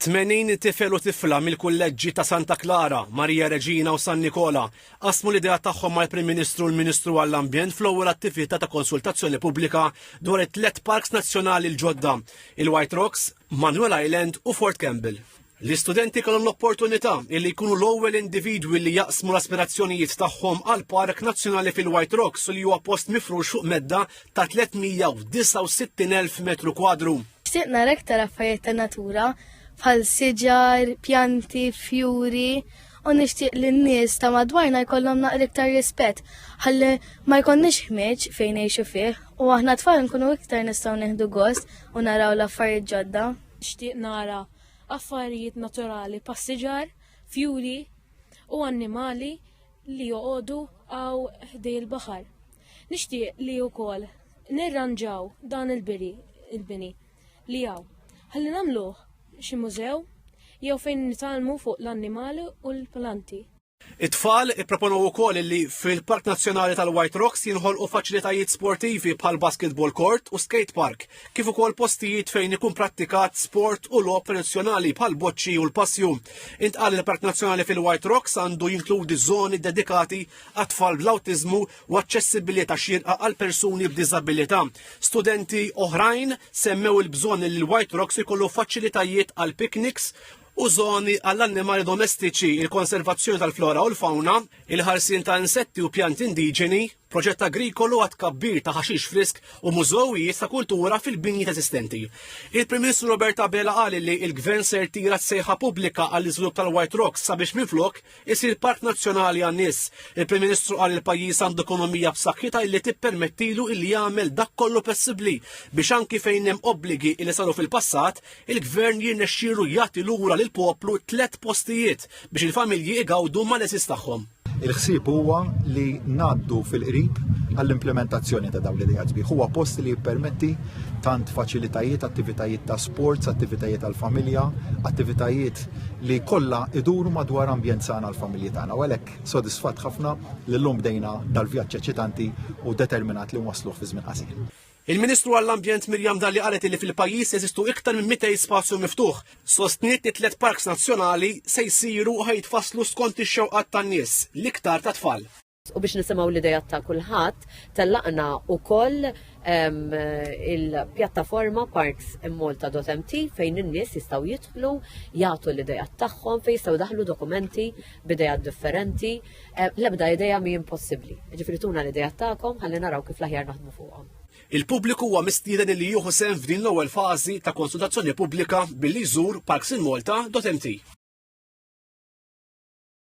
80 tifel u tifla mill-kulleġġi ta' Santa Klara, Marija Reġina u San Nikola qasmu l-idea tagħhom mal-Prim Ministru u l-Ministru għall-Ambjent fl-ewwel attività ta' konsultazzjoni pubblika dwar it-tliet parks nazzjonali l-ġodda, il-White Rocks, Manuel Island u Fort Campbell. L-istudenti kellhom l-opportunità li jkunu l-ewwel individwi li jaqsmu l-aspirazzjonijiet tagħhom għal park nazzjonali fil-White Rocks li huwa post mifrux fuq medda ta' 369,000 metru kwadru. Xtieq nara iktar affarijiet ta' natura bħal siġar, pjanti, fjuri u nixtieq li n-nies ta' madwarna jkollhom naqra iktar rispett ħalli ma jkollniex ħmieġ fejn ngħixu fih u aħna tfal nkunu iktar nistgħu nieħdu gost u naraw l-affarijiet ġodda. Nixtieq nara affarijiet naturali pas-siġar, fjuri u annimali li joqogħdu hawn ħdej il-baħar. Nixtieq li wkoll nirranġaw dan il-biri, il-bini li jaw. Ħalli namluħ xi mużew jew fejn nitalmu fuq l-annimali u l-planti. It-tfal ipproponow ukoll li fil-Park Nazzjonali tal-White Rocks jinħolqu faċilitajiet sportivi bħal basketball court u skate park, kif ukoll postijiet fejn ikun prattikat sport u logħob tradizzjonali bħal boċċi u l-passju. Intqal il-Park Nazzjonali fil-White Rocks għandu jinkludi żoni dedikati għat-tfal bl-awtiżmu u aċċessibilità xierqa għal persuni b'diżabilità. Studenti oħrajn semmew il-bżonn li l-White Rocks ikollu faċilitajiet għal pikniks u zoni għall-annimali domestiċi, il-konservazzjoni tal-flora u l-fauna, il-ħarsin ta' insetti u pjanti indiġeni, proġett agrikolu għat kabbir ta' ħaxix frisk u mużowijiet ta' kultura fil-binji eżistenti. Il-Prim Ministru Roberta Bela qal li il-Gvern ser tira sejħa pubblika għall iżvilupp tal-White Rocks sabiex minflok isir park nazzjonali għan-nies. Il-Prim Ministru qal il-pajjiż għandu ekonomija b'saħħitha illi tippermettilu illi jagħmel dak kollu possibbli biex anki fejn hemm obbligi li saru fil-passat, il-Gvern jirnexxielu jagħti lura lil poplu tliet postijiet biex il-familji igawdu mal-eżis tagħhom. Il-ħsieb huwa li ngħaddu fil-qrib għall-implementazzjoni ta' dawn l-idejat bih. Huwa post li jippermetti tant faċilitajiet, attivitajiet ta' sports, attivitajiet għall-familja, attivitajiet li kollha iduru madwar ambjent sana l-familji tagħna. U għalhekk sodisfatt ħafna li llum bdejna dal-vjaġġ eċitanti u determinat li nwaslu fi żmien qasir. Il-Ministru għall-Ambjent Miriam Dalli qalet li fil-pajjiż jeżistu iktar minn 200 spazju miftuħ. Sostniet li tliet parks nazzjonali se jsiru u ħajtfasslu skont ix-xewqat tan-nies, l-iktar tat-tfal. u biex nisimgħu l-idejat ta' kulħadd, tellaqna wkoll il-pjattaforma Parks in Malta.mt fejn in-nies jistgħu jidħlu, jagħtu l-idejat tagħhom, fejn jistgħu daħlu dokumenti b'idejat differenti. L-ebda idea mi impossibbli. Ġifieri tuna l-idejat tagħkom ħalli naraw kif l-aħjar naħdmu fuqhom. Il-pubbliku huwa mistieden li jieħu sehem f'din l-ewwel fażi ta' konsultazzjoni pubblika billi jżur Parks in Malta.mt.